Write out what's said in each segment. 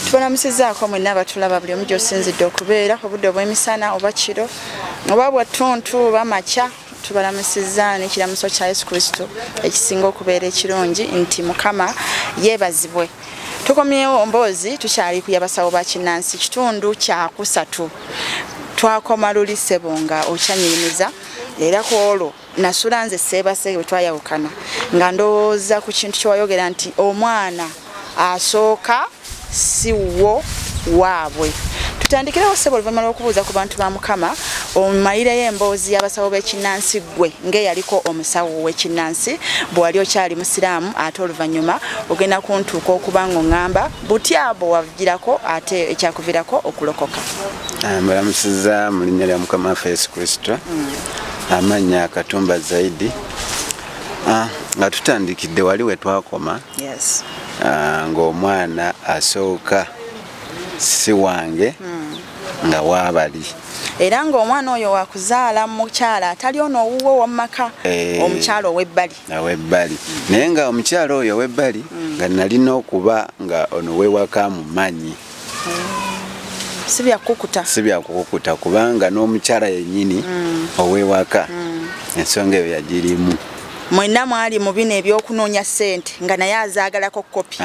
tubalamusizaako mwenna abatulaba buli omu gyosinzidde okubeera obudde obw'emisana oba kiro oba bwa ttuntu oba makya tubalamusizza n'ekiramuso kya yesu kristo ekisinga okubeera ekirungi nti mukama yeebazibwe tukomyewo mboozi tukyali ku yabasawo ba kinnansi kitundu kyakusatu twakoma luli ssebo nga okyanyirimiza era ku olwo nasula nze seebase bwe twayawukana nga ndowooza ku kintu kyewayogera nti omwana asooka si wo waabwe tutandikirewo ssebo oluvannyuma lw'okubuuza ku bantu ba mukama omayireyo emboozi y'abasawo b'ekinnansi ggwe ng'eyaliko omusawo w'ekinnansi bwe wali okyali musiraamu ate oluvannyuma ogenda kuntuuka okuba ng'oŋŋamba butya bwe wagirako ate ekyakuvirako okulokoka ah, mbalamusiza mu linnya lya mukama waffe yesu kristo mm. amannya katumba zaidi ah, nga tutandikidde wali we twakoma yes. uh, ng'omwana asooka si wange mm. nga waabali era ng'omwana oyo wakuzaala mukyala atali ono owuwo womumaka eh. omukyala owebbali owebbali naye nga omukyala oyo owebbali mm. nga nalina okuba nga ono wewaka mumanyi sibyakukuta sibyakukuta kubanga n'omukyala yennyini mm. ow'ewaka mm. ensonga eyo yagirimu mwena mwali mu bino ebyokunoonya sente nga naye azaagalako kopi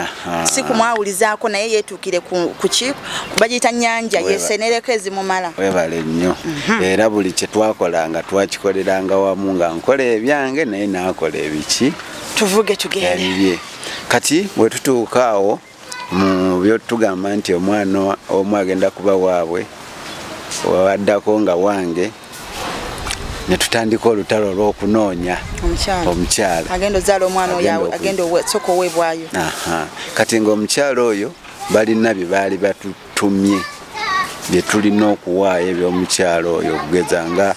si kumwawulizaako naye yeetuukire ku ki bagiyita nyanja yesenereko ezimumala webale nnyo mhm. era buli kye twakola nga twakikoleranga wamu nga nkola ebyange naye naakola ebiki tuvuge tugende kati bwe tutuuka awo mu byotugamba nti omwana omu agenda kuba waabwe waddako nga wange ne tutandika olutalo olw'okunoonya omukyala agenda ozaala omwana oyo agenda soka owebwayo kati ng'omukyala oyo balina bye baali batu tumye bye tulina okuwaayo eby'omukyalo oyo okugeza nga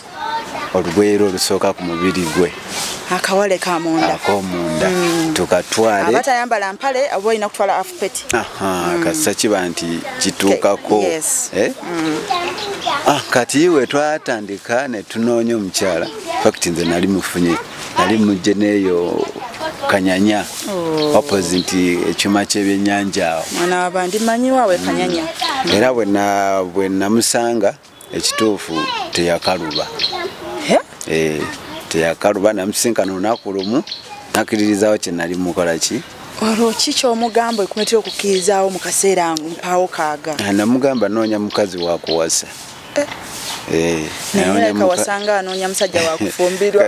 olugweyero olusooka ku mubiri gwe akawale kamundakomunda mm. tukatwale abatayambala mpale oba olina kutwala afupeti mm. kasisa kiba nti kituukako eh? mm. ah, kati iwe twatandika netunoonya omukyala fakti nze nali mufunye nali mujje neeyo kanyanya oh. opposite nti ekyuma ky'ebyennyanja awo mwana wabandi manyiwawe kanyanya mm. era bwe namusanga ekituufu teyakaluba eh, teyakaluba namusinkana olunaku lumu nakkiririzawo kye nali mukola ki olwo ki kyomugamba ekumetera okukkirizaawo mu kaseera mpaawo kaaga ah, namugamba noonya mukazi wakuwasa Eh, naye kawasanga anoonya musajja wakufumbirwa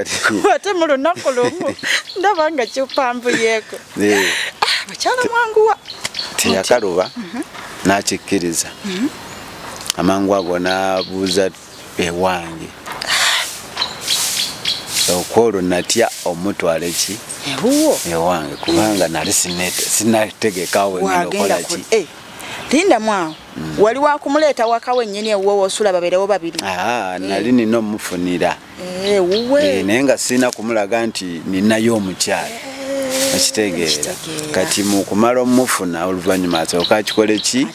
ate mu lunaku lumu ndaba nga kyopambuyeeko eh. ah, bakyala mwanguwa teyakaluba mhm. nakikkiriza mhm. amangu ago nabuuza ewange ah. okwolwo natya omutwala eki ewange kubanga nali sinategekawo ngenda okolaki eh. lindamu awo mm. wali wakumuleeta waka wenyini ewuwe wosula babeerewo babiri ah, eh. nali nina omufunira eh, ewuwe eh, naye nga sirina kumulaga nti ninayo omukyalo akitegeera kati mukumala omufuna oluvanyuma asooka akikole ki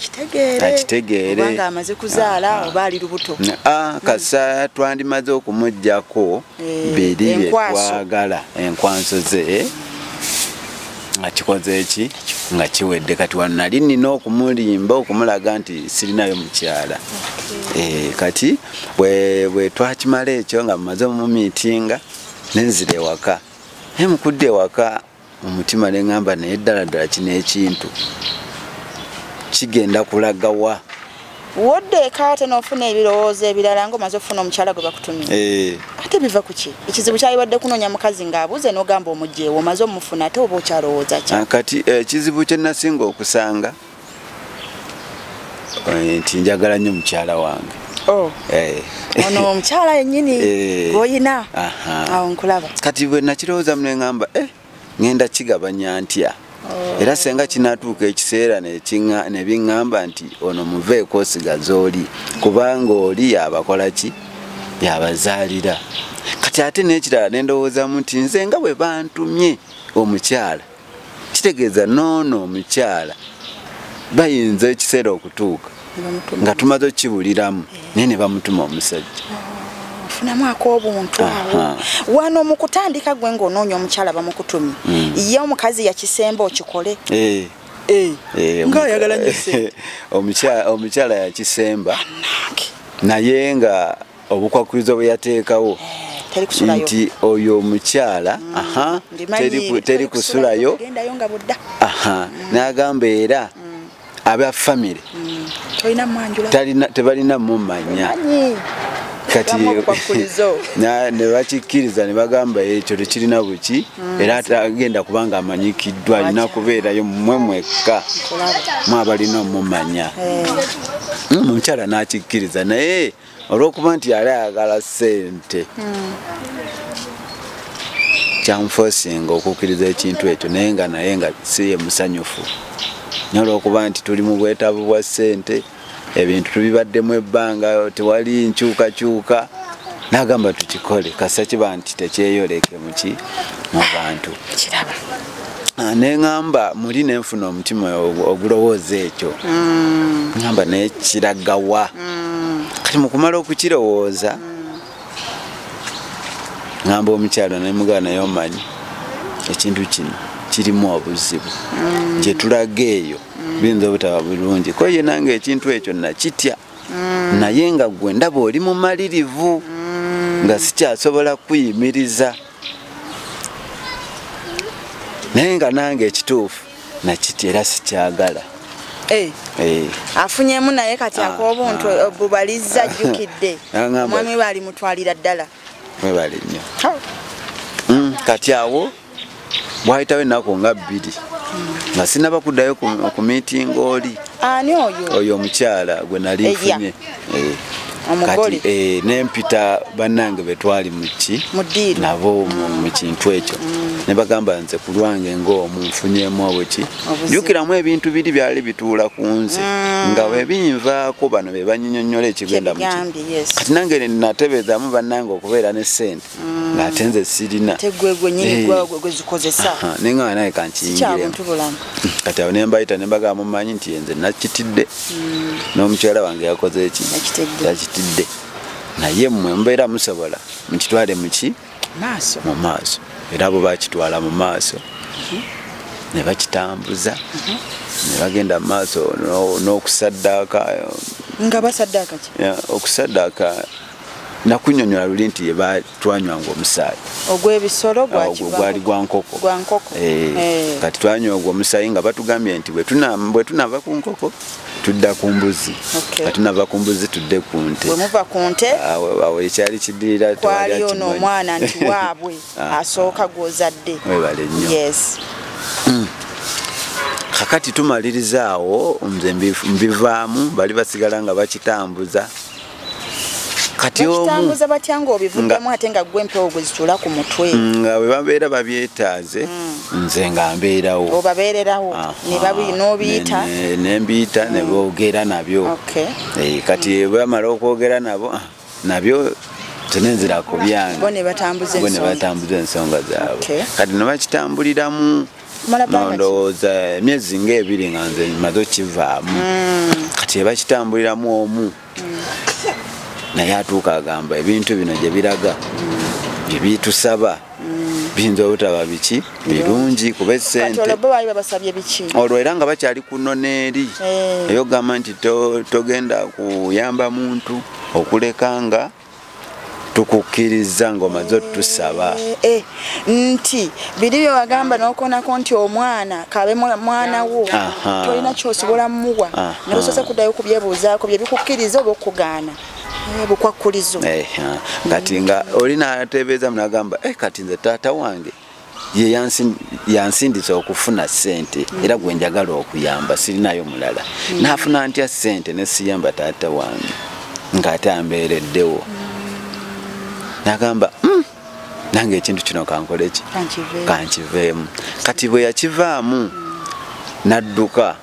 akitegeereamaze kuzaala ah, oba ali lubuto ah, kasa twandimaze okumugjako eh, biri byetwagala enkwanso ze eh? nga kikoze eki nga kiwedde kati wano nali nina okumulimba okumulaga nti sirinayo mukyala eh, kati bwetwakimala ekyo nga mumaze omumiitinga nenzira ewaka mukudde ewaka mu mutima ne ŋŋamba naye ddala ddala kino ekintu kigenda kulaga wa wodde eka ate n'ofuna ebirowoozo ebirala nga omaze okufuna omukyala gwe bakutumye eh. ate biva ku ki ekizibu kyalibadde kunoonya mukazi ng'abuuze n'ogamba omugyewo omaze omufuna ate oba okyalowooza ki ah, kati eh, ekizibu kye nasinga okusanga eh, nti njagala nnyo mukyala wange oh. eh. ono omukyala yenyini eh. gwoyina awo nkulaba kati bwe nakirowooza mu neŋamba e ŋenda kigabanya ntya oh. era senga kinatuuka ekiseera nebiŋamba nti ono muveeko osigaza oli kubanga oli yabakola ki yabazaalira kati ate nekirala nendowoozamu nti nze nga bwe bantumye omukyala kitegeeza noono omukyala bayinza ekiseera okutuuka nga tumaze okukibuliramu naye ne bamutuma omusajja ofunamu akobuntu awo wano mu kutandika gwe ng'onoonya omukyala bamukutumye hmm. ye omukazi yakisemba okikole eh. Eh. Eh, omukyala yakisemba naye nga obukwakkulizo bwe yateekawo eh, nti oyo omukyala mm, teri kusulayo mm. n'agamba era mm. aba famire tebalina mumanya kati ne bakikkiriza ne bagamba ekyo tekirina buki mm. era agenda kubanga amanyikiddwa alina kubeerayo mwe mwekka mwabalina omumanya eh. mm, omukyala n'akikkiriza naye olwokuba nti yali ayagala sente hmm. kyamufosinga okukkiriza ekintu ekyo naye nga naye nga si ye musanyufu naye olwokuba nti tuli mu bwetaavu bwa sente ebintu tubibaddemu ebbanga tewali nkyukakyuka nagamba tukikole kasita kiba nti tekyeyoleke muki mu bantu Ah, neŋamba muli nenfuna omutima ogulowooza ekyo mm. ŋamba nekiragawa mm. kati mukumala okukirowooza ŋamba mm. omukyalo nemugana naye omanyi ekintu kino kirimu obuzibu gyetulaga eyo biyinza obutaba bulungi ko ye nange ekintu ekyo nakitya naye nga gwe ndaba oli mumalirivu nga sikyasobola kuyimiriza naye nga nange ekituufu nakiti era sikyagala eh. Eh. afunyemu naye kati ah, akobuntu ah. bubalizza jjukidde omwami baali mutwalira ddala mwebale nnyo hmm, kati awo bwayitawo ennaku nga bbiri nga sinaba kuddayo ku miitinga oli oyo omukyala gwe nali nfunye eh, kati eh, nempita banange betwali muki nabo mukintu mm. ekyo mm. nebagamba nze kulwange ngaomu nfunyemu obuki jukiramu ebintu biri byali bituula ku nze mm. nga webinvaako bano bebanyinyonyola ekigenda muki kati nange natebezamu banange okubeera ne sente mm. ng'ate nze sirina naye nga naye kankiyingiremu kati awo nembayita nembagaa mumanyi nti enze nakitidde mm. n'omukyala wange yakoze eki yakitidde naye mwe mubeera musobola mukitwale muki mu maaso era abo bakitwala mu maaso mm-hmm. ne bakitambuza mm-hmm. ne bagenda mu maaso n'okusaddaaka nga basaddaaka ki okusaddaaka nakunyonyola luli nti twanywanga omusaayi ogwebisolo gwali gwa nkoko eh, eh. kati twanywa ogwo omusaayi nga batugambye nti bwetunava ku nkoko tudda ku mbuzi nga tunava ku mbuzi tudde ku nte awo ekyali kidirira twali ono omwana nti waabwe ah. asooka gwozadde webale nnyo hmm. kakati tumaliriza awo nze mbivaamu bali basigala nga bakitambuza kati omutambuza batya nga obivuddemu ate nga gwe empewo gwe zitula ku mutwe mm, nga bwe babeera babyetaaze mm. nze nga mbeerawo obabeererawo n'obiyita ne mbiyita ne mm. boogera nabyo eh, kati bwamala okwogera nabo ah, nabyo tenenzira ku byange bo ne batambuza ensonga zaabwe kati ne bakitambuliramu nondowooza emyezi nga ebiri nga nze maze okivaamu mm. kati ebakitambuliramu omu mm. naye atuuka agamba ebintu bino gye biraga mm. ebitusaba biyinza obutaba biki birungi kuba esente olwo era nga bakyali kuno neeri eh. eyogamba nti togenda kuyamba muntu okuleka nga tukukkirizza ng'omaze otusaba eh, eh, nti biri bye wagamba n'okonako nti omwana kabe mwana wo tolina kyosobola muwa nosoose kuddayo kubyebuuzaako bye bikukkiriza oba okugaana Eh, bukwakkulizo eh, kati nga oli natebeeza munagamba eh, kati nze taata wange ye yansindisa okufuna sente era gwe njagala okuyamba sirinayo mulala mm. nafuna ntya sente nesiyamba taata wange ngaate ambeereddewo mm. nagamba mm, nange ekintu kino kankoleki kankiveemu kati bwe yakivaamu nadduka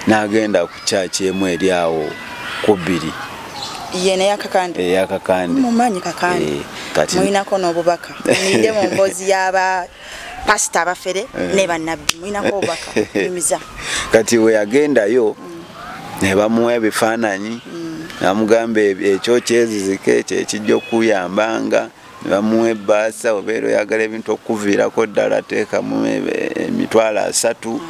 n'agenda ku kyaki emu eri awo ku bbiri yena yakakande eh, yakakande mumanyi kakande eh, kati muinako no bubaka ninde mu mbozi yaba pasta abafere eh. ne banabbi muinako bubaka mimiza kati we agenda yo mm. ne bamuwa ebifananyi mm. amugamba ekyo kyezizike ekyo ekijja okuyambanga nebamuwa ebaasa obeera oyagala ebintu okukuviirako ddala teekamu emitwalo asatu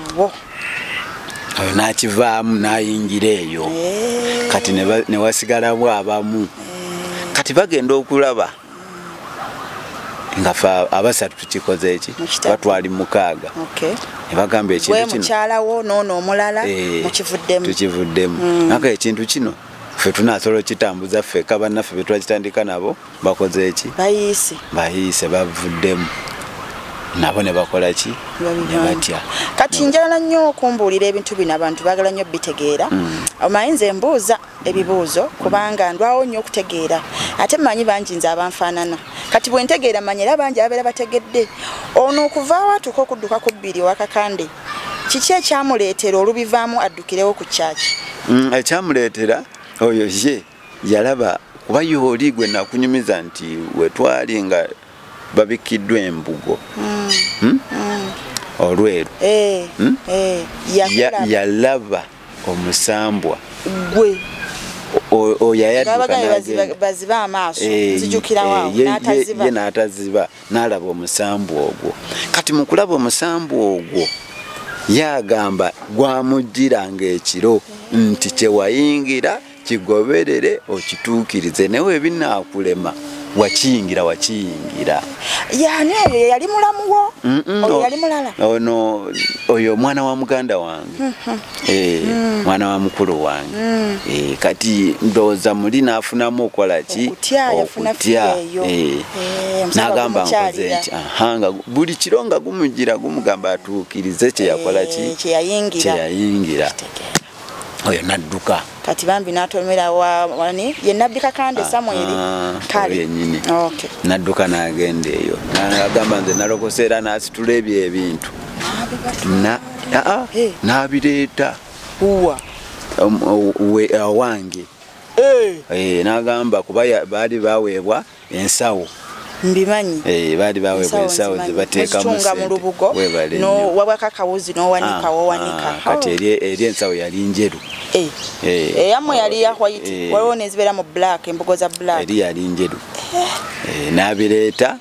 oyo nakivaamu nayingira eyo eh. kati newasigalamu abamu eh. kati bagenda okulaba nga abasatu tukikoze eki batwali mukaaga nebagamba ekintukinokivuddemutukivuddemu eh, mm. naka ekintu kino fe tunasolo kitambuza ffe kabanaffe betwakitandika nabo bakoze eki bayiise bayiise bavuddemu nabo ne bakola ki ne batya kati njala nnyo okumbuulira ebintu bino abantu baagala nnyo bitegeera mm. omaye nze mbuuza ebibuuzo kubanga ndwawo nnyo okutegeera ate mmanyi bangi nze abanfaanana kati bwe ntegeera mmanyi era bangi ababeera bategedde ono okuvaawo atuuka okudduka ku bbiri owakakande kiki ekyamuleetera olubivaamu addukirewo ku kyaki mm, ekyamuleetera oyo ye yalaba kuba yooli gwe nakunyumiza nti wetwali nga babikkiddwa embugo mm. Hmm? Mm. olweru eh, hmm? eh, yalaba omusambwa gwe oyoyayabaziba amaaso eh, nzijukirawaye n'ataziba n'alaba omusambwa ogwo kati mu kulaba omusambwa ogwo yagamba gwamujjiranga ekiro nti kyewayingira kigoberere okituukirize naye webinaakulema wakiyingira wakiyingira yani oyo yeyali mulamu wo oyo yali mulala ono oyo omwana wa muganda wange mm-hmm. eh, mm. mwana wa mukulu wange mm. eh, kati ndowooza muli naafunamu okola ki okutya eh, nagamba nkoze nti ahanga buli kiro nga gumugira gumugamba atuukirize kyeyakola ki kyeyayingira oyo nadduka kati bambi natomera wani ye nabbi kakande ah, samweri ah, kale nadduka nagenda eyo agamba nze nalokose era nasitula ebyo ebintu nabireeta um, wange eh. eh, nagamba kuba baali baweebwa ensawo mbimanyi eh, baali baweebwa ensawo ze bateekamu sentewabwako akawuzi n'owanika ah, wowanika ah, kati eri ensawo yali njeru eh, eh, eyamu yali ya white waliwo nezibeera mu black embugo za black eri yali njeru n'abireeta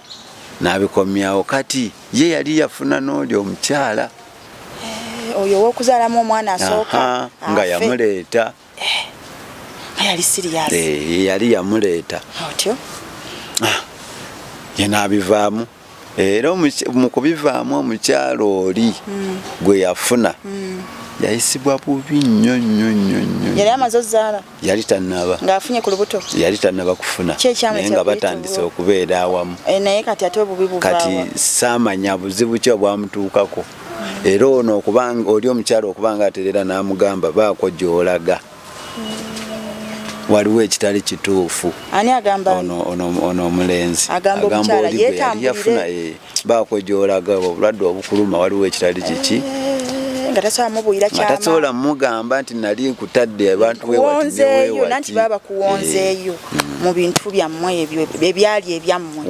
n'abikomyawo kati ye yali yafuna n'oli omukyala oyo owokuzaalamu omwana asooka nga yamuleeta eh, yali siriyasi eh, yali yamuleeta otyo ah, yenaabivaamu era mu kubivaamu omukyalo oli hmm. gwe yafuna hmm. yayisibwa bubi nnyo nnyo nnyo nnyo yali amaze ozaala yali tannaba ng'afunye ku lubuto yali tannaba kufuna naye nga batandise okubeera awamu eh, naye kati ate obubi bukati saamanya buzibu ki obwamutuukako era ono okubanga oli omukyalo okubanga aterera n'amugamba baako gy'olaga waliwo ekitali kituufu ani agamba ono ono ono omulenzi agamba omukyala yetambulire eh, baako gy'olaga obulwadde obukuluma waliwo ekitali kiki nga tasobola mubuulira kyama tasobola mugamba nti nali nkutadde abantu wewonzeeyo nanti baba bakuwonzeeyo eh, mm. mu bintu byammwe ebyo ebyali ebyammwe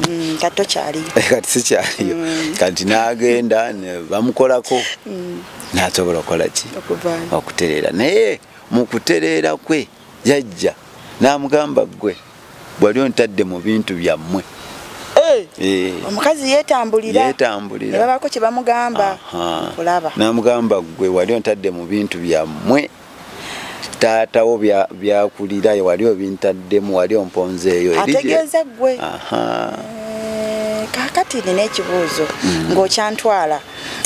mm, kati tokyaliyo eh, kati sikyaliyo mm. kati nagenda bamukolako mm. nasobola okukola ki okutereera naye mu kutereera kwe jajja namugamba gwe bwali ontadde mu bintu byammwe eh, eh. omukazi yetambulirayetambulirababako kyebamugamba kulaba namugamba gwe wali ontadde mu bintu byammwe taata wo byakulira bya wali obintaddemu wali omponze eyo ategeeza gwe eh, kakati nina ekibuuzo mm. ng'okyantwala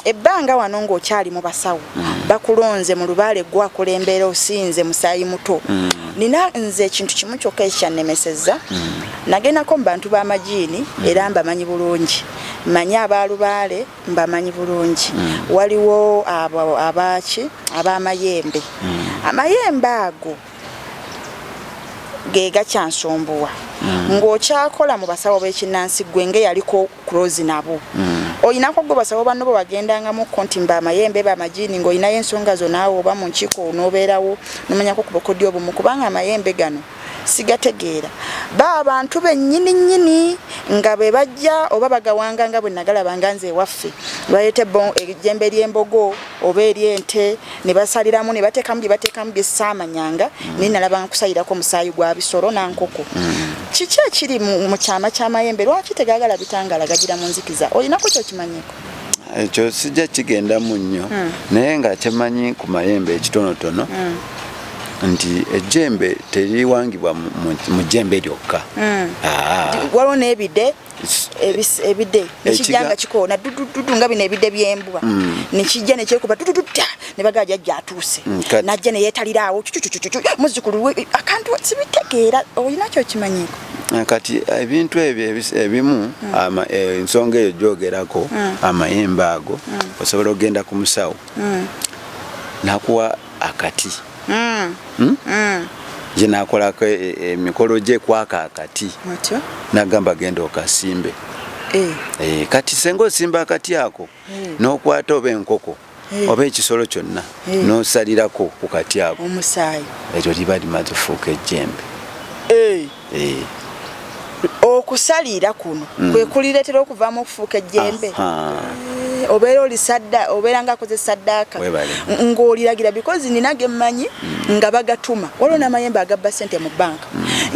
ebbanga wano ng'okyali mu basawo mm. bakulonze mu lubaale gwakulembeera osinze musaayi muto mm. nina nze ekintu kimu kyokka ekikyannemesezza mm. nagendako mu bantu b'amajiini mm. era mbamanyi bulungi manyi abaalubaale mbamanyi bulungi mm. waliwo abo abaki abamayembe mm. amayembe ago gegakyansumbuwa mm. ng'okyakola mu basawo b'ekinnansi gwe nga eyaliko kurozi nabo mm. olinako gwe basawo banno bwe wagendangamukko nti mba amayembe bamajini ng'olinayo ensonga zonaawe oba mu nkiiko n'obeerawo nomanyako ku bukodyo obumu kubanga amayembe gano sigategeera ba abantu bennyini nnyini nga bwe bajja oba bagawanga nga bwe nagalaba nga nze ewaffe baleete ejjembe ery'embogo oba eri ente ne basaliramu ne bateekamu bye bateekamu bye saamanyanga mm. naye nalaba nkusalirako omusaayi gwa bisolo na nkoko mm. kiki ekiri mu kyama ky'amayembe lwaki tegagala bitangaala gagira mu nzikiza olinako kyokimanyiko ekyo sijja kigendamu nnyo hmm. naye nga kyemanyi ku mayembe ekitonotono hmm. nti ejjembe teriwangibwa mu jjembe lyokka hmm. ah. waliwo n'ebide ebide nekijja nga kikoona dudududu nga bino ebide byembwa hmm. nekijja nekyekuba dudududa nebagaa jajja atuuse hmm, najja neyetaliraawo cucucucucu muzukulu akantu sibitegeera olina kyokimanyiiko Eh, kati eh, ebintu ebyo ebimu mm. eh, ensonga eyo gyogerako mm. amayembe ago mm. osobola okugenda ku musawo nakuwa akati mm. Hmm? Mm. ye nakolako e, e, emikolo gye kwaka akati nagamba genda okasimbe eh. Eh, kati senga osimba akati ako eh. nokwata oba enkoko oba ekisolo kyonna nosalirako ku kati ako ekyo liba limaze fuuka ejjembe eh. okusaliira kuno mm. kwe kulireetera okuvaamu okufuuka ejjembe eh, obeera oli sadda obeera nga akoze saddaaka ng'oliragira bikozi nina ge mmanyi mm. nga bagatuma waliwo mm. n'amayembe agabba ssente mu bbanka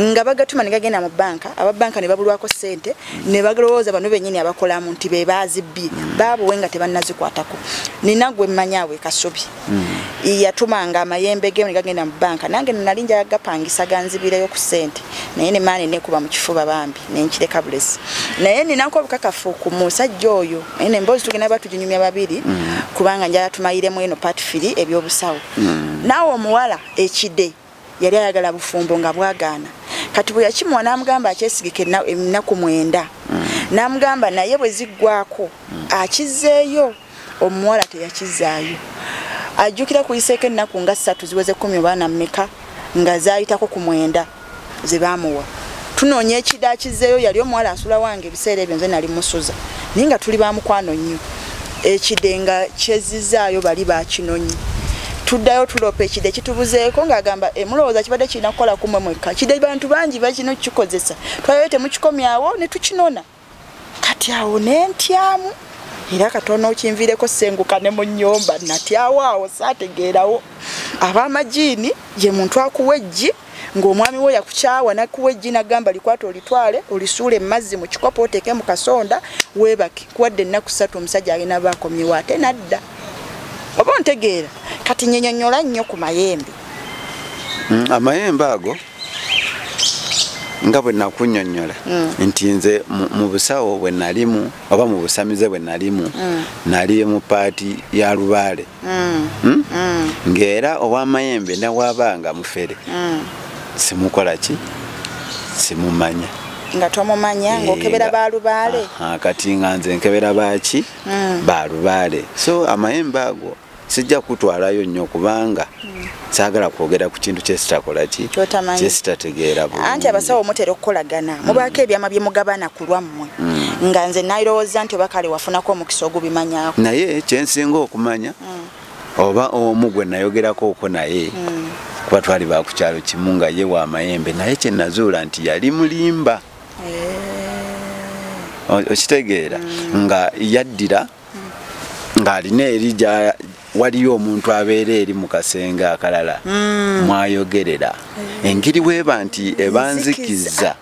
nga bagatuma ne gagenda mu bbanka aba bbanka ne babulwako ssente ne balowooza bano bennyini abakolamu nti be baazibbye baabuwe nga tebannazikwatako nina gwe mmanyi awo e kasubi mm. yatumanga amayembe ge negagenda mu banka nange nali njaga gapangisa ganzibireyo ku sente naye ne maani nekuba mu kifuba bambi nenkireka bulesi naye ninako obukakafu ku musajja oyo naye nemboozi tugenda ba tuginyumya babiri mm. kubanga njala tumayiremu eno patfiri ebyobusawo mm. naawe omuwala ekide yali ayagala bufumbo nga bwagaana kati bwe yakimuwa n'amugamba akyesigika ennaku mwenda mm. n'amugamba naye bwe ziggwako mm. akizzeeyo omuwala teyakizzaayo ajjukira kuyiseeko ennaku nga ssatu ziweze kkumi obaana mmeka nga zaayitako ku mwenda ze baamuwa tunoonya ekida akizzeeyo yali omuwala asula wange ebiseera ebyo nze nali musuza naye nga tuli bamukwano nnyo ekide nga kyezzizaayo bali bakinonyi tuddayo tuloopa ekide kitubuzeeko ng'agamba emulowooza kibadde kirina kukola kumwe mwekka kide bantu bangi bakino kikozesa twayoyo temukikomyawo ne tukinona kati awo nentyamu era katono okinviireko senguka ne mu nyumba natyawo awo saategeerawo abamajiini ye muntu akuwa eggi ng'omwami we yakukyawa nakuwa eggi nagamba likwata olitwale olisuula emazzi mu kikopo oteeke mu kasonda weebake kuwadde ennaku ssatu omusajja alina baakomyewo ate nadda oba ontegeera kati nyenyonyola nnyo ku mayembe mm, amayembe ago nga bwe nakunyonyola mm. nti nze mu busawo bwe nalimu oba mu busamize bwe nalimu mm. nali mu paati ya lubaale mm. hmm? mm. ng'era ow'amayembe nawabaanga mufere mm. simukola ki simumanya nga tomumanya eh, ng'okebera ba lubaale kati nga nze nkebera baaki mm. ba lubaale so amayembe ago sijja kutwalayo nnyo kubanga mm. saagala kwogera ku kintu kyesitakola ki kyesitategeera bu anti abasawo mutera okukolagana mm. mubaako ebyama bye mugabana ku lwammwe mm. nga nze nalowooza nti oba kale wafunako omukisa ogubimanyako naye kyensinga okumanya mm. oba omu gwe nayogerako okwo naye mm. kuba twali bakukyalo kimu nga ye wa mayembe naye kyenazuula nti yali mulimba okitegeera mm. nga yaddira ng'alina eri waliyo omuntu abeera eri mu kasenge akalala mm. mwayogerera eh. engeri weeba nti ebanzikiza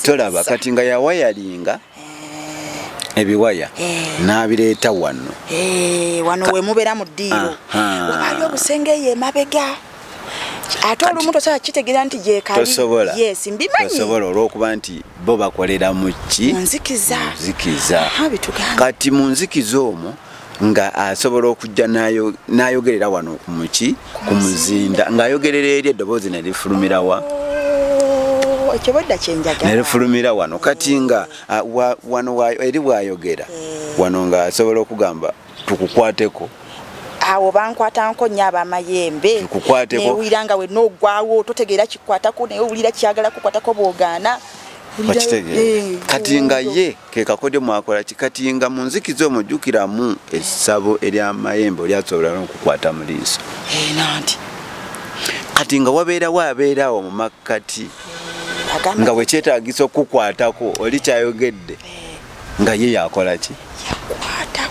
tolaba kati nga yawayalinga eh. ebiwaya eh. n'abireeta wano wano wemubera mu ddiiro wabali obusenge eyo emabega ate olumu tosobola kitegeera nti gyekabitosobola yes, mbimanyisobola olwokuba nti bo bakolera mu ki munzikiza kati mu nzikiza omwo nga asobola okujja nayogerera wano kumuki ku muzinda ngaayogerera eri eddoboozi nerifulumirawa oh, nerifulumira wano kati nga wano eri bwayogera eh. wano ngaasobola okugamba tukukwateko awo bankwatanko nnyo abamayembe newulira nga wenna ogwawo totegeera kikwatako naye owulira kyagala kukwatako bwogaana okitegeera eh, kati nga ye kekakodyo mwakola ki kati nga mu nzikiza omwo jjukiramu essabo eryamayembe olyasobola nokukwata mu liiso eh, nanti kati nga wabeerawo abeeraawo mu makkati eh, nga bwekyetagisa okukwatako oli kyayogedde nga ye yakola ki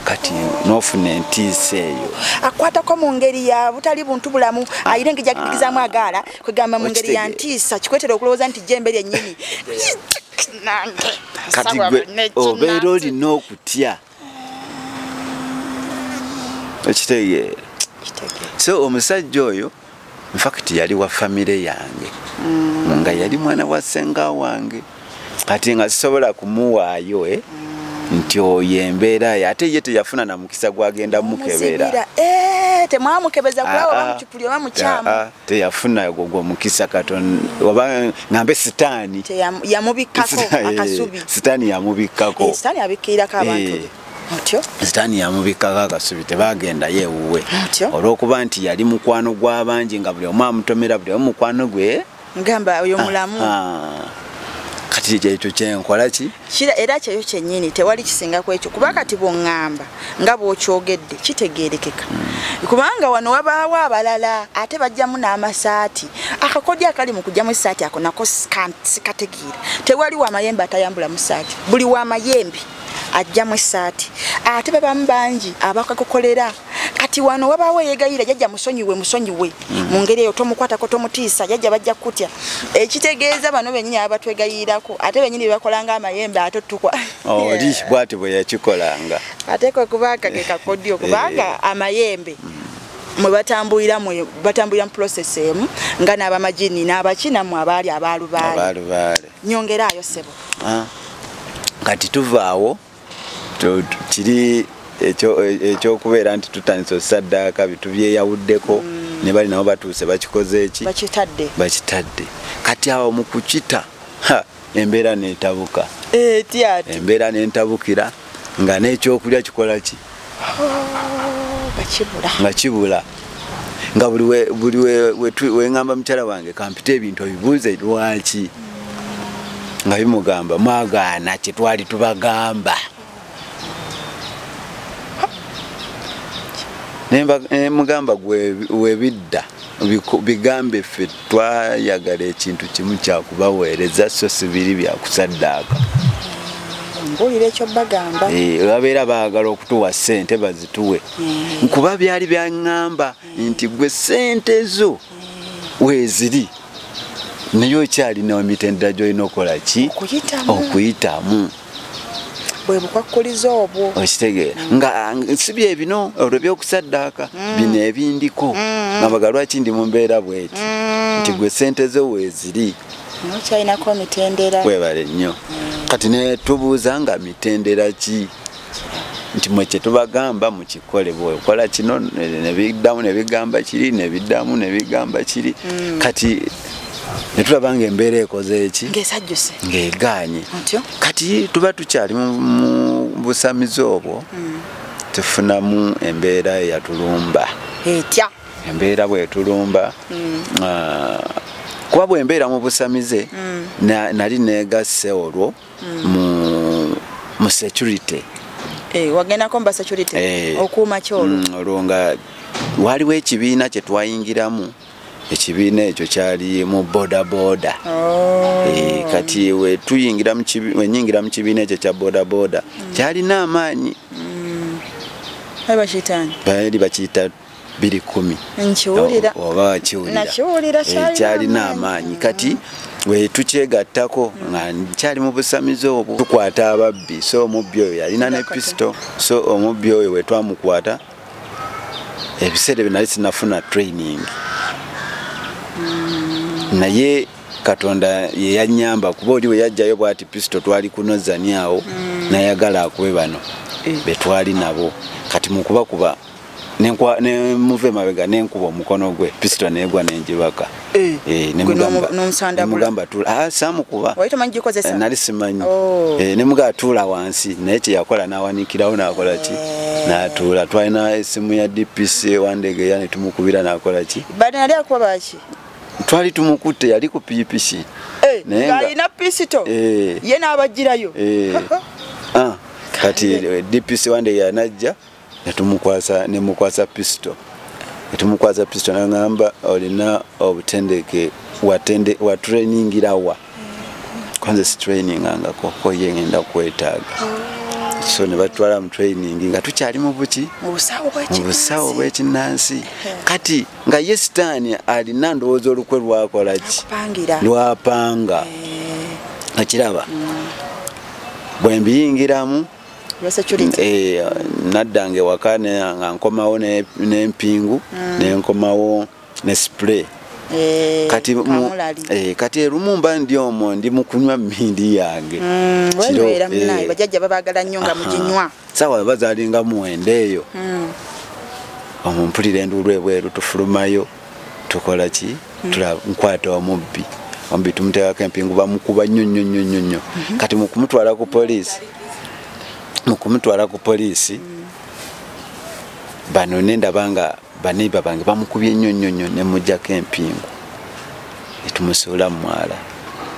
kati nofuna entiisa eyo akwatako mu ngeri ya butali buntu bulamu ah. ayire ngeja kitikizamu ah. agaala kwegamba mu ngeri ya ntiisa kikwetera okulowooza nti jembe lyennyini kati gwe obeera olina okutya okitegeera so omusajja oyo infact yali wa famire yange mm. nga yali mwana wa senga wange kati nga sisobola kumuwaayo eh? mm. nti oyo embeera ye ate ye teyafuna na mukisa gwagenda mukebera eh, teyafuna ogwo mukisa katon oba ngambe sitaani sitaani yamubikkako sitaani yamubikkako akasubi tebaagendayo ewuwe olw'okuba nti yali mukwano gw'abangi nga buli omu amutomera buli omu mukwano gwe ngamba oyo mulamu ah, ah. kati kyekyo kyenkola ki kira era kyeyo kyennyini tewali kisinga ku ekyo kuba kati bwongamba nga bwokyogedde kitegeerekeka hmm. kubanga wano wabaawo abalala ate bajjamu n'amasaati akakodyo akali mu kujjamu esaati ako nako sikategeera tewali wamayembe atayambula mu saati buli wamayembe ajjamu essaati ate babamu bangi abakakukolera kati wano wabaawo eyegayira jajja musonyiwe musonyiwe mm. mu ngeri eyo tomukwatako tomutiisa jajja bajja kukutya ekitegeeza bano benyini aba batwegayirako ate benyini bebakolanga amayembe ate otukwa oh, oli bwati bwe yakikolanga ate kwe kubanga ke kakodyo eh. kubanga amayembe mm. mwe batambulira mwe batambulira mu process emu nga n'abamajini n'abaki namwe abaali abaalubaale nyongera ayo sebo ah. kati tuvaawo kiri ekyokubeera nti tutandise osaddaaka bitubyeyawuddeko mm. ne bali nabo batuuse bakikoze eki bakitadde bakitadde kati awo mu kukita embeera netabuka embeera nentabukira nga n'ekyokulya kikola ki nga kibula nga buli weŋamba mukyala wange kampita ebintu obibuuze lwaki nga bimugamba mwagaana kyetwali tubagamba nemugamba gwewebidda bigambe ffe twayagala ekintu kimu kyakubaweereza so sibiri byakusaddaaka mpulira ekyo bagamba eh, babeera baagala okutuwa ssente bazituwe eh. nkuba byali byaŋŋamba nti gwe ssente zo eh. weeziri naye okyalina emitendera gy'olina okukola ki okuyitamu bwe bukwakkulizo obwo okitegeera mm. nga si bye bino olwo byokusaddaaka mm. bino ebindiko mm. nga baga lwaki ndi mu mbeera bweti nti gwe sente zo weeziri nokyalinako mitendera webale nnyo kati ne tubuuza nga mitendera ki nti mwe kyetubagamba mukikole bwekola kino nebiddamu nebigamba kiri nebiddamu nebigamba kiri kati ne tulaba ng'embeera ekoze eki ng'esajjuse ng'egaanye kati tuba tukyali mu busamizi obwo hmm. tufunamu embeera eyatulumba etya embeera bwetulumba hmm. ah, kuba bwembeera mu busamize hmm. nali negasse olwo mu security eh, wagendako mu basecurity eh. okuuma kyolwo olwo nga waliwo ekibiina kye twayingiramu ekibiina ekyo kyali mu bodaboda oh. eh, kati wenyingira mu kibiina ekyo kya bodaboda mm. kyalina amaanyi mm. baali bakiyita biri kumi obakiwulira eh, kyalina amaanyi kati wetukyegattako nga nkyali mu busamizi obwo tukwata ababbi so omubbi oyo yalina ne pisito so omubbi oyo wetwamukwata ebiseera ebyo nali sinafuna training mm. naye katonda yeyanyamba kuba oli weyajjayo bwati pisto twali kunozani awo mm. nayagala akube bano eh. betwali nabo kati mukubakuba nemuva emabega nenkuba omukono gwe pisto negwa nenjibaka Eh, eh, nemugamba ah, samukuba eh, nali simanyi oh. nemuga atuula wansi naye kyeyakola nawanikirawo nakola ki natuula twalina esimu ya dpc wandege ya netumukubira nakola ki twali tumukutte yali ku pikipiki alina pisito ye nabajirayo ah, kati dpc wandege yanajja netumukwasa nemukwasa pisito netumukwasa pisito nangamba olina obutendeke watende watrainingira wa kwanze sitrainingangako koye ngenda kwetaaga so ne batwala mu training nga tukyali mu buki mu busawo bwekinnansi kati nga ye sitaani alina ndowooza olukwe lwakola ki lwapanga eh. okiraba mm. bwe mbiyingiramu Eh, naddanga ewaka nga nkomawo n'empingu mm. nenkomawo ne spray eh, kati eh, kati erumu mba ndi omwo ndi mukunywa mindi yange mm, bajajja babagala nnyo nga muginywa sawa bazalinga muwenda eyo mm. omumpulira enduulu ebweru tufulumayo tukola ki mm. tulaba nkwata omubbi omubbi tumuteekako empingu bamukuba nnyo nnyo nnyo nnyo nnyo mm-hmm. kati mukumutwala ku poliisi mukumutwala ku poliisi mm. bano nendaba nga baneiba bange bamukubye nnyo nnyo nnyo nemujjako empingu etumusuula mu mwala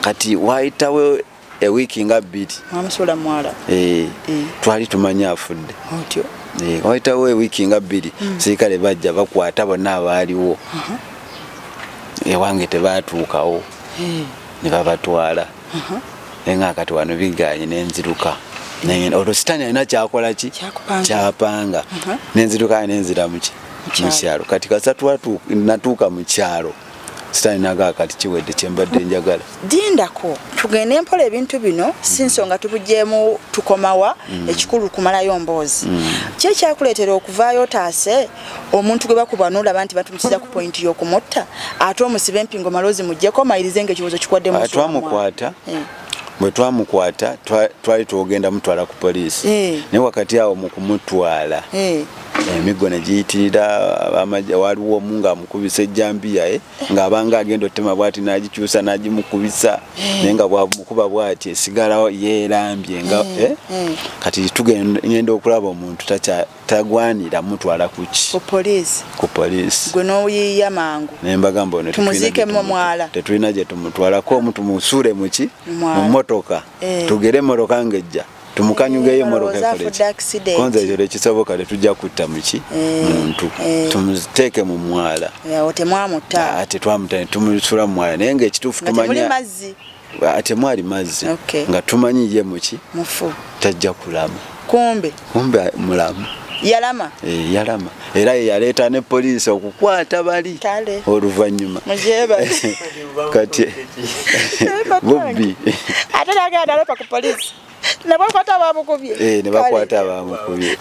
kati wayitawo ewiiki nga bbiri mwamusuula mwala eh, eh. twali tumanyi afudde otyo eh, wayitawo ewiiki nga bbiri hmm. sirikale bajja bakwata bonna abaaliwo uh-huh. ewange tebaatuukawo ne babatwala uh-huh. naye nga kati wano biganye nenziruka olwo sitaani alina kyakola ki kyapanga uh-huh. nenziruka nenziramukyi mukyalo kati kasatu natuuka mukyalo sitani nagaa kati kiwedde kyembadde njagala dindako tugende mpola ebintu bino si nsonga tubujemu tukomawa mm. ekikulu kumalayo mboozi mm. ki ekyakuleetera okuvaayo otaase omuntu gwe bakuba nolaba nti batumusiza ku pointi yokumutta ate omusibe empingo malozi mujjeko mayirize nga ekibuzo kikwaddemutwamukwata ah, eh. bwe twamukwata twali twogenda mutwala ku poliisi eh. naye wakati awo mu kumutwala eh. emiggo ne giyitirira abamajja waliwo omu ng'amukubisa ejjambiya e ng'abanga agenda otema bwati n'agikyusa n'agimukubisa eh. naye nga bwamukuba bwati esigalawo yeerambye nga eh, eh. mm. kati tugenda okulaba omuntu tagwanira mutwala kuki ku poliisi gwe n'oyiiya mangu naye mbagamba ono tumuziike mu mwala tetulina gye tumutwalako omu tumusuule muki mu mmotoka tugere emmotoka ng'ejja tumukanyugeyo emmotoka ekolekonza ekyo tekisoboka tetujja kutta muki eh, muntu eh. tumuteeke mu mwala temwamutta tetwamuta tumusula mu mwala naye ngaekituufu tumanya temwali mazzi nga tumanyi ye muki tajja kulama kumbe kumbe mulamu yalama eh, yalama era ye yaleeta ne poliisi okukwata bali oluvannyuma kati bobbi ate nagenda nalepa ku poliisi nebakwata abamukubye eh, nebakwata abamukubye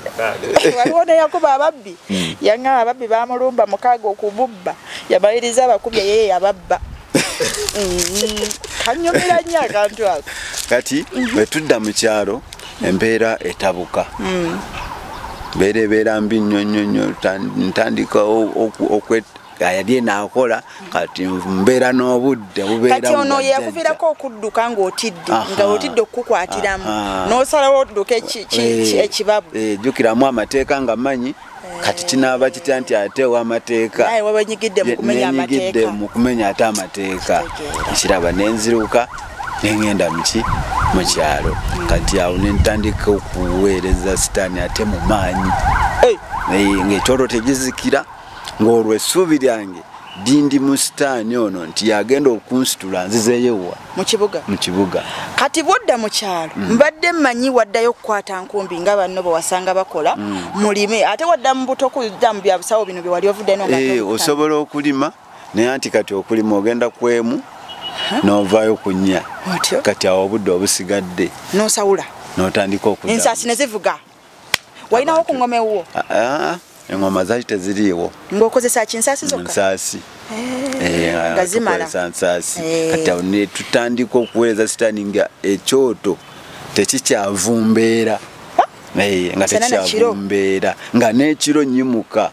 waliwo neyakuba ababbi hmm. yaŋaa ababbi bamulumba mukaaga okububba yamaliriza abakubye yeye yababba hmm. kanyumira nnyo akantu ako kati bwetudda mu kyalo embeera etabuka hmm. mbeera ebeera mbi nnyo nnyo nnyo ntandika yali enakola kati mbeera n'obudde bubeerakati ono yakuvirako okudduka ng'otidde nga otidde okukukwatiramu n'osalawo odduka eh, ekibabbu eh, jjukiramu amateeka nga manyi kati kinaaba kitya nti ate owamateeka nenyigidde mu kumenya ate amateeka ekiraba nenziruka nengenda muki mu kyalo kati awo nentandika okuweereza sitaani ate mu maanyi ngaekyolwo tegizikira ngaolwo essuubi lyange dindi musitaani ono nti yagenda okunsitula nzizeeyowa mukibuga mukibuga kati bwodda mu kyalo mm. mbadde mmanyi waddayo okukwata nkumbi nga banno bwe wasanga bakola mm. mulime ate wadda mu buto kudda mu bya busawo bino bye wali ovuddeno ee eh, osobola okulima naye anti kati okulima ogenda kwemu n'ovaayo ku nnya kati awo obudde obusigadde n'osawula n'otandika okuda ensaasi ne zivuga walinawo ku ngoma ewuwo ah, ah, engoma zaali teziriiwo ngaokozesa ki nsaasi zokka nsaasi eh, eh, nga zimalaa nsaasi eh. kati awo ne tutandika okuweereza sitaani nga ekyoto tekikyavumbeera nga tekikyavumbeera nga n'ekiro nyimuka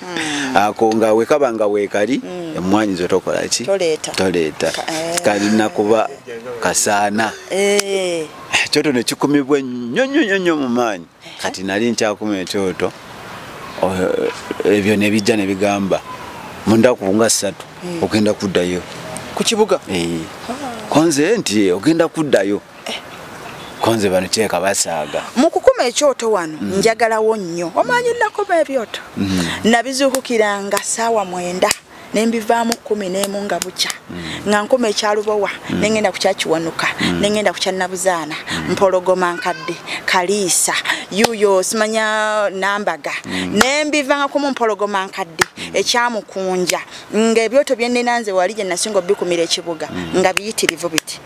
Hmm. ako nga wekaba nga wekali hmm. emwanyi zo tokola ki toleeta eh. kalina kuba kasaana eh. ekyoto nekikumibwa ennyo nyo nyo nyo mu maanyi eh. kati nali nkyakuma ekyoto oh, ebyo nebijja nebigamba mundaku nga ssatu hmm. ogenda kuddayo ku kibuga konze nti ogenda kuddayo konze bano kyeka basaaga mu kukuma ekyoto wano mm. njagalawo nnyo omanyi nakuma ebyoto mm. nabizuukukiranga saawa mwenda nembivaamu kumi nemu nga bukya mm. nga nkuma ekyalubowa mm. nengenda kukyakiwanuka mm. nengenda kukyanabuzaana mm. mpologoma nkadde kaliisa yuyo simanya nambaga mm. nembivanga kumu mpologoma nkadde mm. ekyamukunja nga ebyoto byenenanze wali gyenasinga obikumira ekibuga mm. nga biyitirivu biti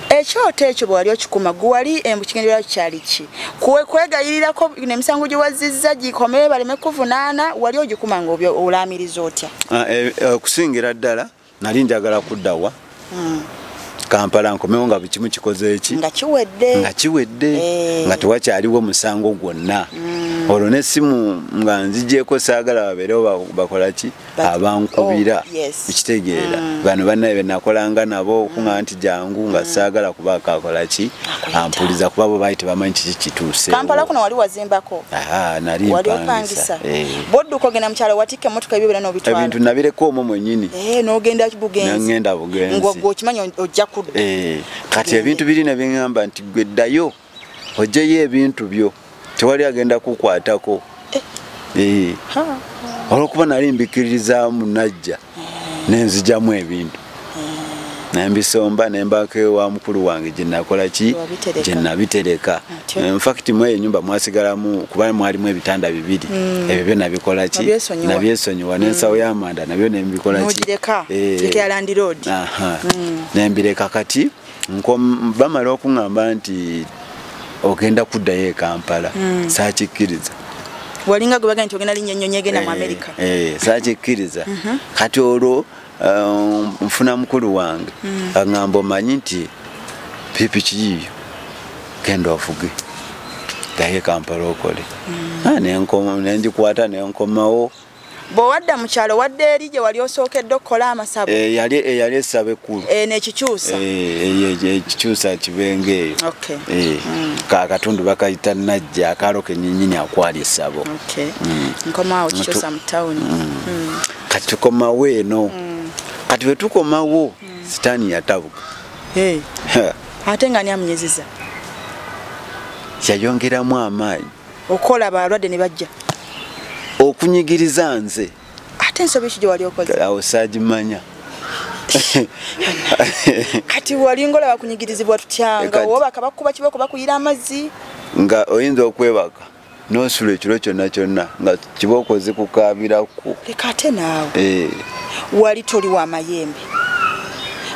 ekyoto ekyo bwewali okikuma gwewali embu kigenderwa kyali ki kwegayirirako nemisango gyewaziza gikomee baleme kuvunaana wali ogikuma nga olaamiriza otya ah, eh, eh, okusingira ddala nali njagala kuddawa hmm. kampala nkomewo nga bukimu kikoze eki nga kiwedde nga kiwedde eh. nga tewakyaliwo musango gwonna hmm. olwo nesimu nga nzigyeko saagala babeerewo bakolaki abankubira oh, ekitegeera mm. bano banaye benakolanga nabo okuŋa nti jangu nga mm. saagala kuba akakola ki ampuliza kuba bo baali tebamanyi kiki kituuse kampala kuno wali wazimbako nali mpangisa eh. bwodduka ogenda mukyalo watikka emotoka ebyo bera nobitwala ebintu nabireka omwo mwenyini eh, nogenda bugenzingenda bugenzi ngogwe okimanyi ojja kudda eh, kati ebintu biri nebiŋamba nti gwe ddayo ojeyo ebintu byo tewali agenda kukwatako eh. Eh. olwokuba nali mbikiririza munajja nenzijamu ebintu nembisomba nembako ewa mukulu wange gyenakola ki gyenabitereka infact mwe enyumba mwasigalamu kuba mwalimu ebitanda bibiri mm. ebyo byo nabikola ki nabyesonyiwa nensawo mm. yamanda nabyo nembikola ki eh. mm. nembireka kati bamala okuŋamba nti ogenda kuddayo e kampala mm. sakikkiriza walinga gwe bagenda nti ogenda linnya ennyonyi egenda mu eh, amerika eh, sakikkiriza mhm. kati olwo eh, nfuna mukulu wange mm. aŋamba omanyi nti pipiki yiyo genda ovuge ddayo e kampala okole mm. ah, nenjikwata nenkomawo ne bwewadda mu kyalo wadde eri gye wali osookedde okukola amasabo eh, yali eyali eh, essaba ekkulu eh, nekikyusa ekikyusa kibenga eyo mm. kakatundu bakayita najja akaalo kenyinyini akwali essabo mm. nkomawo kikyusa mu tawuni mm. kati tukomawo eno kati bwe tukomawo sitaani yatabuka ate nga ni amunyiziza yayongeramu amaanyi okola balwadde ne bajja okunyigiriza nze ate ensobi ki gye wali okoze awo saagimanya kati wali ngola bakunyigirizibwa tutyanga oba bakabakuba kiba kuba kuyira amazzi nga oyinza okwebaka nosula ekiro kyonna kyonna nga kiba okoze kukaabiraku leka ate naawe eh. wali toli wa mayembe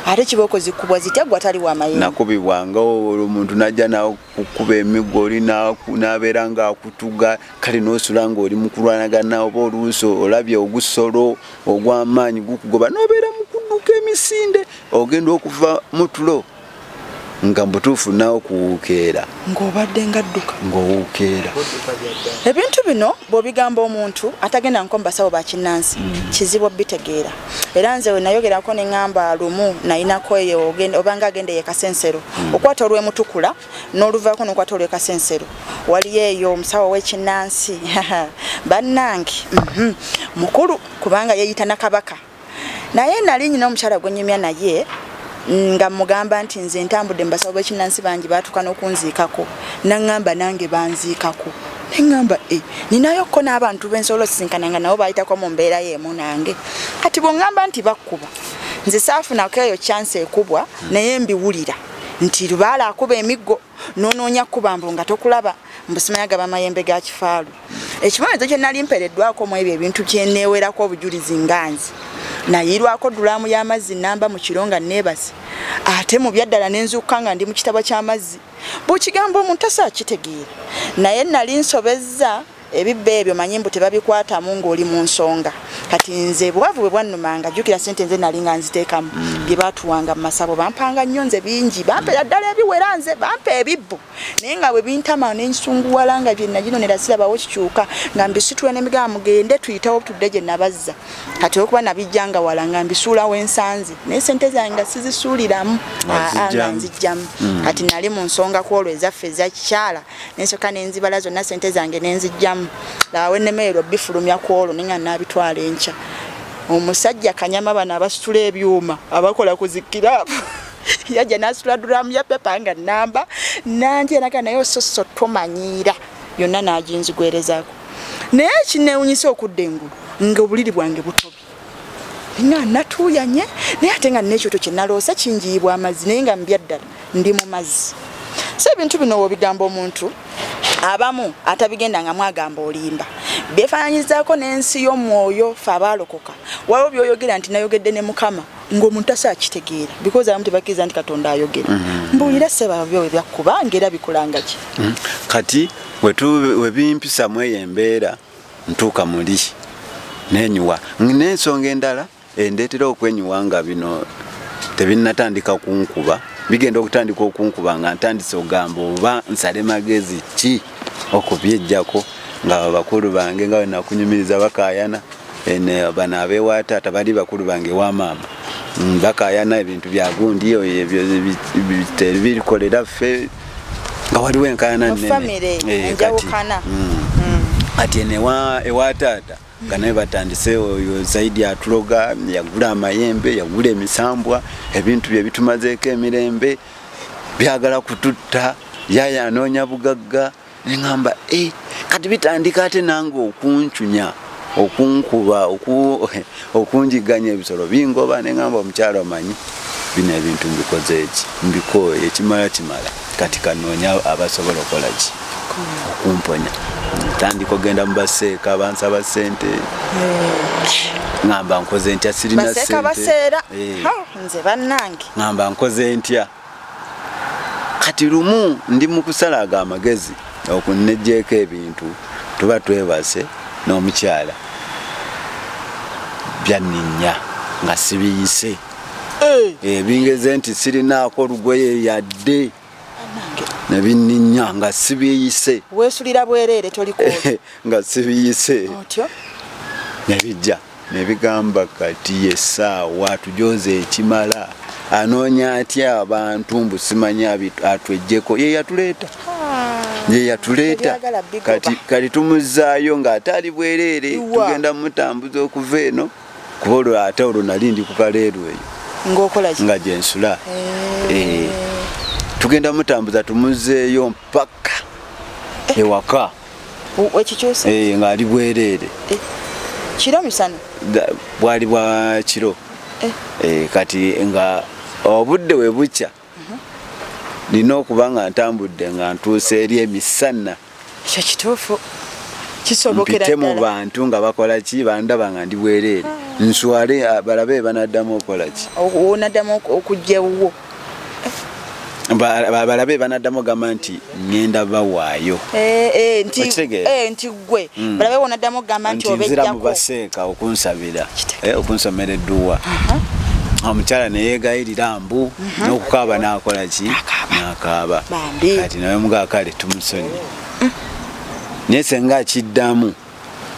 ate kiba okoze kubwa zitya gwa tali wa mayembe nakubibwangawo omuntu najja nawe okukuba emiggo oli n'abeera ng'akutuga kale n'osula ng'oli mu kulwanagana oba oluusi olabye ogusolo ogw'amaanyi gukugoba n'obeera mu kudduka emisinde ogenda okuva mu tulo nga mbutuufu naawe kuwuukeera ng'obadde nga dduka ng'owuukeera ebintu bino bw'obigamba omuntu atagenda nko mu basawo ba kinnansi mm. kizibu obitegeera era nze wenayogerako neŋamba lumu nayinako eyo obanga agenda eyekasensero hmm. okwata olwemutukula noluvako nokwata olwekasensero waliyo eyo omusawo wekinansi bannange mhm. mukulu kubanga yeyita nakabaka naye nali nyina omukyala gwenyumya naye nga mugamba nti nze ntambudde mubasawo bekinansi bangi batuka nokunziikako naŋamba nange banziikako neŋŋamba e eh, ninayo ko n'abantu be nsobola osisinkana nga nabo baayitako mu mbeera y'emu nange kati bw'oŋŋamba nti bakkuba nze saafunako eyo kyansi ekubwa naye mbiwulira nti lubaala akuba emiggo n'onoonya kubambo nga tokulaba mbusimanya gaba mayembe ga kifaalu ekibonerezo kye nali mpereddwako mu ebyo ebintu kyeneewerako obujulizi nga nze nayiirwako dulaamu y'amazzi namba mu kiro nga neebase ate mu byaddala ne nzuukuka nga ndi mu kitabo ky'amazzi bukigambo omuntu asa akitegeera naye nali nsobezza ebibba ebyo manyi mbu tebabikwatamu ng'oli mu nsonga kati nze bwavu bwe bwannumanga jjukira sente nze nali nga nziteekamu mm. bye baatuwanga mu masabo bampanga nnyo nze bingi bampera ddala ebiwera nze bampa ebibbo naye nga bwe bintama nensunguwala nga bye naginonera sirabawo kikyuka nga mbisitula n'emigaa mugende tuyitawo tudde gye nabazza kati olwokuba nabijja nga wala nga mbisuula wensanze naye sente zange nga sizisuuliramu nga nzijjamu hmm. kati nali mu nsonga ku olwo ezaffe ezakikyala nensoka nenzibala zonna sente zange nenzijjamu laawe nemeero bifulumya ku olwo ninga nabitwala enkya omusajja kanyama bano abasitula ebyuma abakola ku zikirapu yajja nasitula duramu ya pepa nga namba nanje naga naye ososo tomanyiira yonna n'aginzigwerezaako naye ekinneewunyisa okudda engulu ng'obuliri bwange butobi nga natuuyanye naye ate nga n'ekyoto kye naloosa kingiyibwa amazzi naye nga mbyaddala ndi mu mazzi so ebintu bino wobigamba omuntu abamu atabigenda nga mwagamba olimba byefaananyizaako n'ensi y'omwoyo fe abaalokoka waliwo byoyogera nti nayogedde ne mukama ng'omuntu tasa akitegeera because abamu tebakkiriza nti katonda ayogera mm-hmm. mbuulira sebabyo ebyakkuba ngaera bikulanga ki mm-hmm. kati webimpisa mu eyo embeera ntuuka muli nenyuwa n'ensonga endala endeetera okwenyuwa nga bino tebinnatandika kunkuba bigenda okutandika okunkuba nga ntandise ogamba oba nsale magezi ki okubyejjako nga bakulu bange nga wenakunyumiriza bakayana bano abewa taata bali bakulu bange ewa maama mm, bakayana ebintu byagundi birikolera ffe nga waliwo enkayana nnene eh, kati mm. mm. ati ewa taata nga naye batandise oyo zaidi atuloga yagula amayembe yagula emisambwa ebintu bye bitumazeeko emirembe byagala kututta yaye anoonya bugagga neŋamba e eh, kati bitandika ate nange okuncunya okunkuba okunjiganya ebisolo bingoba neŋamba omukyalo omanyi bino ebintu mbikoze eki mbikooyo ekimala kimala kati kanoonya abasobola okukola ki okumponya ntandika ogenda mu baseeka bansaba sente ŋamba nkoze ntya sirinaseeka baseera eh. nze bannange ŋamba nkoze ntya kati lumu ndi mu kusala ago amagezi okunejjeeko ebintu tuba twebase n'omukyala byanninya nga sibiyise eh. bingeze nti sirinaako lugoye yadde nebinninya nga sibiyise wesulira bwereere toliko nga sibiyise nebijja nebigamba kati yesaawa tujoze ekimala anoonya atya abantu mbu simanyi atwejjeko ye yatuleeta ye yatuleeta kati tumuzaayo ng'ate ali bwereere tugenda mutambuza okuva eno kuba olwo ate olwo nali ndi ku kaleeru eyo nga gyensula eh. eh. tugenda mutambuza tumuzeeyo mpaka eh. ewaka ngaali bwereere kiro misana bwali bwa kiro kati nga obudde webukya nina okuba nga ntambudde nga ntuusa eri emisana ekyo kituufu kisobokerampite mu bantu nga bakola ki bandaba nga ndi bwereere ah. nswale ah, balabe banaddamu okukola ki onaddamu okujja ewuwo balabe banaddamu ogamba nti ngenda bawaayo eh, eh, nti eh, gwe mm. balabe wonaddamu okugamba nti obejjako mubaseeka okunsabira eh, okunsomera edduwa uh-huh. omukyala neyegayirira mbu uh-huh. n'okukaaba n'akola ki n'akaaba kati nawe mugaa kale tumusonyi mm. naye senga akiddamu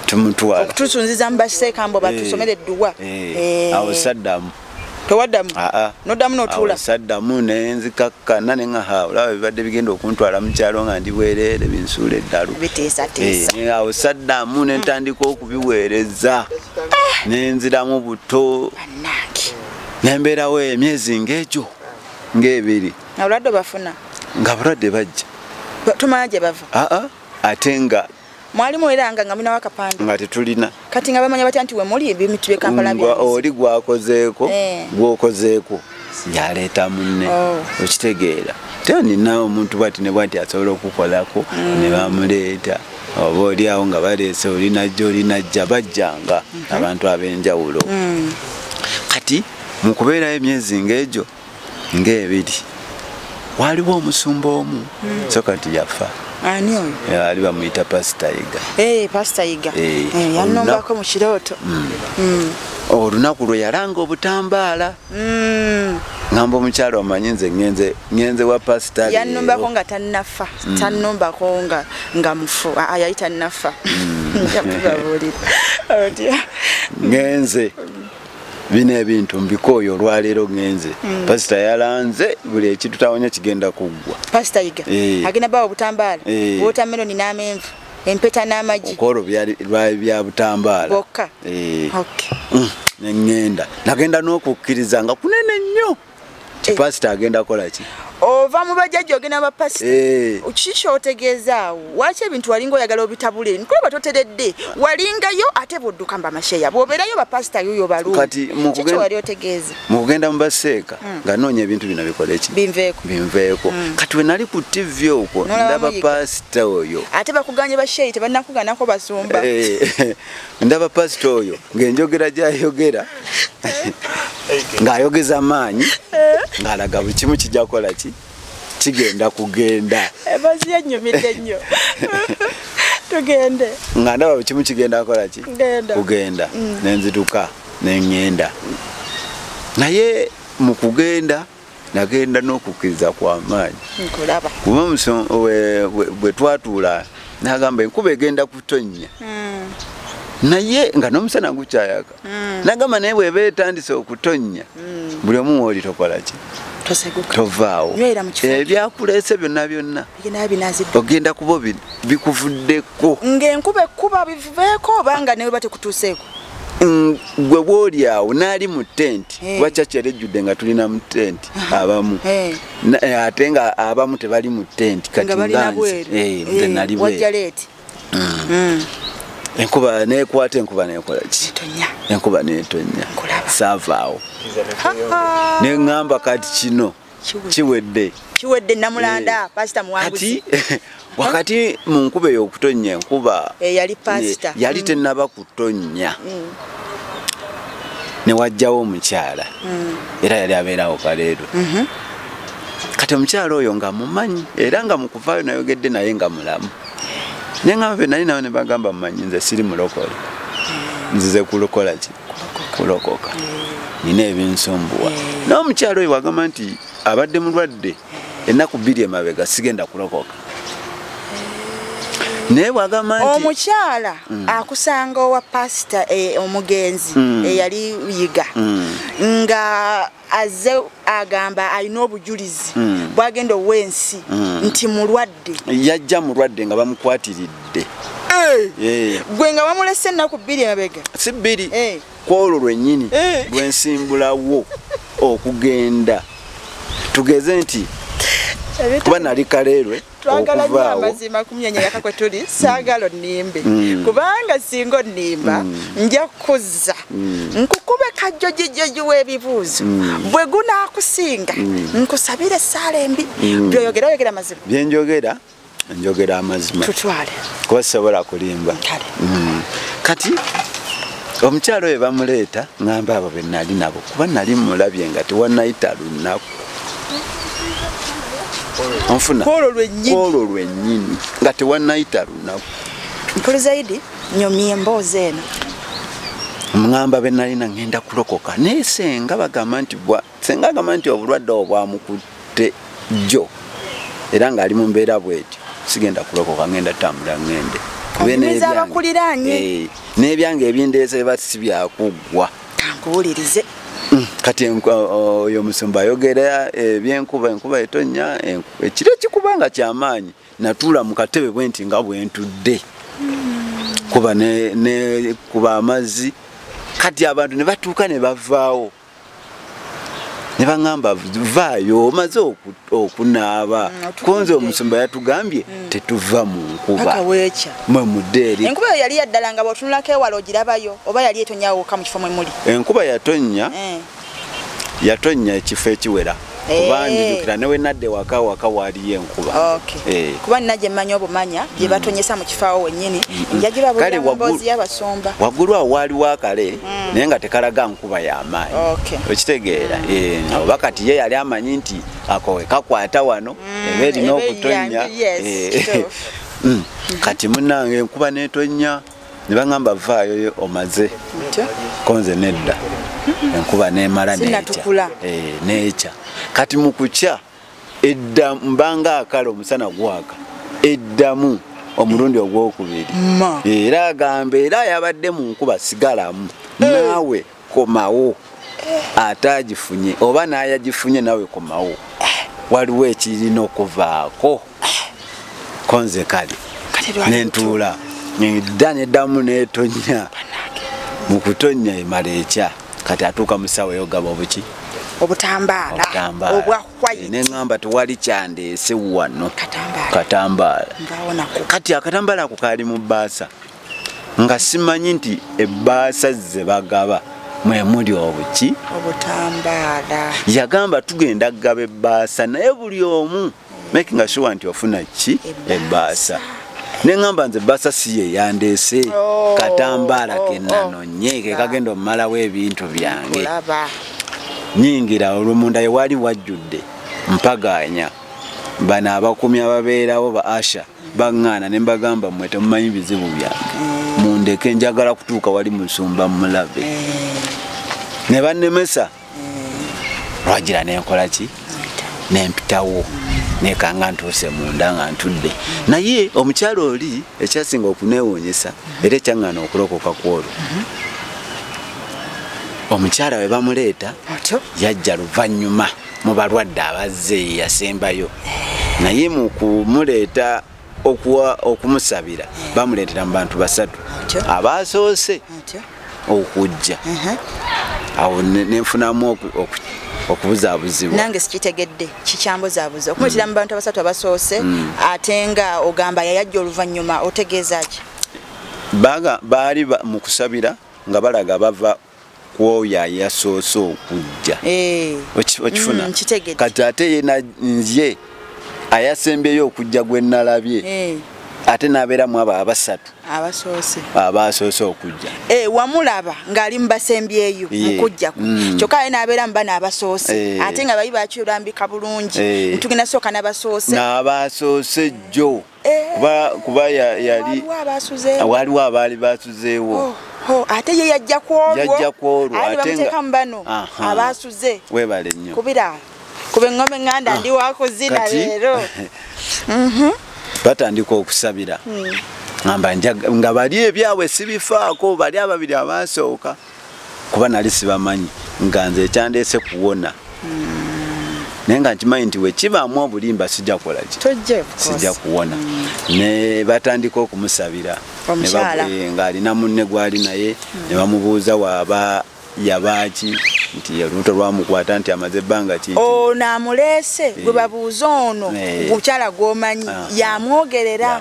tumutwala okutusunziza mu baseeka mbu batusomera eh, edduwa eh, awo saddamu tewaddamu ah, ah. noddamu notuula saddamu nenzikakkana ne nga ha olaba bibadde bigenda okuntwala mu kyalo nga ndi bwereere binsuula eddalu eh, awo saddamu ne ntandika okubiweereza ah. nenziramu buto nembeerawo emyezi ng'egyo ng'ebiri nga bulwadde bafuna nga bulwadde bajja tumala gye bava aa ate nga mwali muweranga nga mulinawo akapande nga tetulina kati nga bamanya batya nti wemuli ebimitu byekampala oli gwakozeeko eh. gwokozeeko yaleeta munne oh. okitegeera te nina omuntu bwati ne bwati asobola okukolako mm. ne bamuleeta oba oli awo nga baleese olinajja olinajja bajjanga mm-hmm. abantu ab'enjawulo mm. kati mu kubeerayo emyezi ng'egyo ng'ebiri waaliwo omusumba omu hmm. so kati yafa ani oyo ali bamuyita pasita yiga eh, pasita yiga eh, eh, yanombako mu kirooto hmm. Hmm. olunaku lwe yalanga obutambaala ngamba omukyala omanyi nze ngenze wa pasita yanombako nga tanafa tanombako nga mufu ah, ah, yali tanafa ngenze bino ebintu mbikooyo olwaleero ngenze mm. pasita yalanze buli ekitutawonya kigenda kuggwa pasita yiga eh. agenda bawa obutambaala eh. wotameroni n'amenvu empeta n'amagi okwolwo lwali bya butambaala bokka eh. mm. nengenda nagenda n'okukkiriza nga kunene nnyo Eh. pasita agenda kola ki ova mu bajajja ogenda bapasita eh. kiki kyotegeezaawo waki ebintu walinga oyagala obitabule nkulaba toteredde walingayo ate bwodduka mba masheya bwobeerayo bapasita yoyo baluwali otegeeza mu kugenda mu baseeka hmm. nga noonya ebintu bino bikola eki binveeko binveeko hmm. kati we nali ku tivi okwo ndaba pasita oyo ate bakuganye basheyi tebannakuganako basumba eh. ndaba pasita oyo ng'enjogera gyayogera ng'ayogeza maanyi ng'alaga buli kimu kijja kukola ki kigenda kugenda emazi eh, yenyumidde nnyo tugende nga ndaba buli kimu kigenda kukola ki kugenda mm. nenzituka nengenda naye mu kugenda nagenda n'okukkiriza kwamaanyi kuba bwe twatuula nagamba enkuba egenda kutonnya hmm. naye nga n'omusana gukyayaka hmm. nagamba naye bweba etandise okutonnya hmm. buli omu wooli tokolaki tovaawo ebyakuleese byonna byonna ogenda kuba bikuvuddeko ng'enkuba ekkuba bivubeeko oba nga newe batekutuuseeko Mm, gwe bwoli awo naali mu tenti eh. kuba kyaki yali ejjudde nga tulina mu tenti abamu eh. Eh, ate nga abamu tebali mu tenti kati nganze nali mm. mm. enkuba nekwata enkuba nekola ki enkuba netonya saavaawo neŋŋamba kati kino kiwedde kiwedde namulanda eh, pastor muwanguzi wakati mu nkuba eyokutonnya enkuba eh, yali pastor eh, yali mm. tenaba kutonnya mm. newajjawo omukyala mm. era yali abeerawo kaleero mhm. kati omukyala oyo nga mumanyi era nga mukuvaayo nayogedde naye nga mulamu naye nga be nali nawe nebagamba mumanyi nze siri mulokole nzize kulokola ki kulokoka nina ebinsumbuwa naye omukyalo oyo wagamba nti abadde mulwadde ennaku bbiri emabega sigenda kulokoka naye bwagamba nti omukyala mm. akusanga owa pasita eh, omugenzi mm. eyali yiga mm. nga azze agamba alina obujulizi mm. bwagenda owa ensi mm. nti mulwadde yajja mulwadde nga bamukwatiridde eh. Eh. gwe nga bamulese ennaku bbiri emabega si bbiri eh. kwolwo lwennyini eh. lwensimbulawo okugenda tugeze nti kuba nali kaleerwe twagala nyo amazima kumyanya yaka kwe tuli mm. saagala onnimbe mm. kubanga singa onnimba mm. nja kuzza nkukube kajjo gijjoji w'ebibuuzo bwe gunaakusinga nkusabire esaala embi byoyogera oyogera amazima byenjogera njogera amazima tutwale kuba sisobola kulimba kati omukyalo oyo bamuleeta ngamba abo benali nabo kuba nali mulabye nga tewanayita lunaku onfuna kwolwo lwennyini nga tewanayita lunaku mpulizaidi nyomye emboozi eno ŋŋamba be nalina ŋŋenda kulokoka naye senga bagamba nti bwa senga agamba nti obulwadde obwo bwamukutte jjo era ng'ali mu mbeera bwetyo sigenda kulokoka ŋŋenda tambula ŋŋende eh, n'ebyange ebindeese ba si byakuggwa kankuwulirize mm, kati oyo omusumba ayogera ebyenkuba eh, enkuba etonya ekiro ekikuba nga kyamaanyi natuula mu katebe bwe nti nga bwentudde kuba nekuba amazzi kati abantu ne batuuka ne bavaawo ne baŋŋamba vaayo omaze okuta okunaaba mm, konze omusumba yatugambye mm. tetuva mu nkuba mwe muddeeri enkuba eyo yali yaddala nga bwotunulako ewala ogirabayo oba yali etonyawuka mu kifo mwe muli enkuba yatonnya eh. yatonnya ekifo ekiwera kuba eh. njijukira newe nadde waka waka waaliyo enkuba eh. kuba nina gye mmanya obumanya gye mm. batonyesa mu kifaawo wennyini mm. njagirabulira mu mboozi y'abasumba waggulu awo waaliwo akale mm. naye nga tekalaga nkuba kuba yamaanyi okitegeera mm. eh, oba kati ye yali amanyi nti akowe kakwata wano mm. eba erina okutonya eh, mm. kati munange enkuba netonya nebaŋamba vaayo omaze konze nedda enkuba nemala nekya eh, kati mukukya edda mbanga akala omusana gwaka eddamu omulundi ogwokubiri era agamba era yabadde mu nkuba sigalamu eh. naawe komawo ate agifunye oba nayagifunye nawe komawo waliwo ekirina okuvaako konze kali nentuula neda nedamu netonya mukutonya emala ekya kati atuuka musawo eyogaba obuki obutambaala obwa white ne ngamba tewali kyandeese wano katambaala kati akatambaala ako kaali mu bbaasa nga simanyi nti ebbaasa ze bagaba mwe muli obuki obutambaala yagamba tugenda kugaba ebbaasa naye buli omu making a sure nti ofuna ki ebbaasa ne ŋŋamba nze basa si ye yandeese oh. katambaala oh, oh. kenanonye ke kagenda omumalawo ebintu byange nyingira olumunda ye wali wajjudde mpagaanya bano abakumi ababeerawo ba asha baŋŋaana ne mbagamba mmwe temumanyi bizibu byange eh. mundeke njagala kutuuka wali musumba mulabe eh. ne bannemesa lwagira nenkola ki nempitawo nekanga ntuuse munda nga ntudde naye omukyalo oli ekyasinga okunewuunyisa era ekyaŋŋana okulokoka kwolwo omukyala we bamuleeta yajja luvannyuma mu balwadde abazze yasembayo naye mu kumuleeta okuwa okumusabira bamuleetera mu bantu basatu abaasoose okujja awo nenfunamu okubuzaabuzibwa nange sikitegedde kikyambuzabuza okumuyitira mu bantu abasatu abasoose mm. ate nga ogamba yayajja oluvannyuma otegeeza ki baali mu kusabira nga balaga bava kwoyo ayasoose okujja eh. okifuna mm, kati ate yena nzye ayasembyeyo okujja gwe nalabye eh. ate nabeeramu abo abasatu abaasoose okujja eh, wamulaba ng'ali mubasembyeyo mukujja kwe mm. kyokka aye nabeera mu bana abasoose ate nga bayi bakyulambika bulungi ntugenda sooka nabasoose naabasoose jjo kuba kuba yali waliwo abaali basuzeewo oh, oh, ate ye yajja kwolwoyajja kwolwo ateekamu bano abasuze webale nnyo kubira kuba eŋŋombe ŋŋanda ah, ndi wakuzina leero mhm. batandika okusabira hmm. ngamba nga bali ebyabwe sibifaako bali ababiri abaasooka kuba nali sibamanyi nga nze ekyandeese kuwona naye nga nkimanyi nti wekibaamu obulimba sijja kukola ki sijja kuwona mm. ne batandika okumusabira eh, ng'alina munne gwali naye mm. ne bamubuuza waaba yabaaki nti olubuto lwamukwata nti amaze ebbanga ki ono amuleese eh. gwe babuuza ono eh. mukyala gwomanyi yamwogerera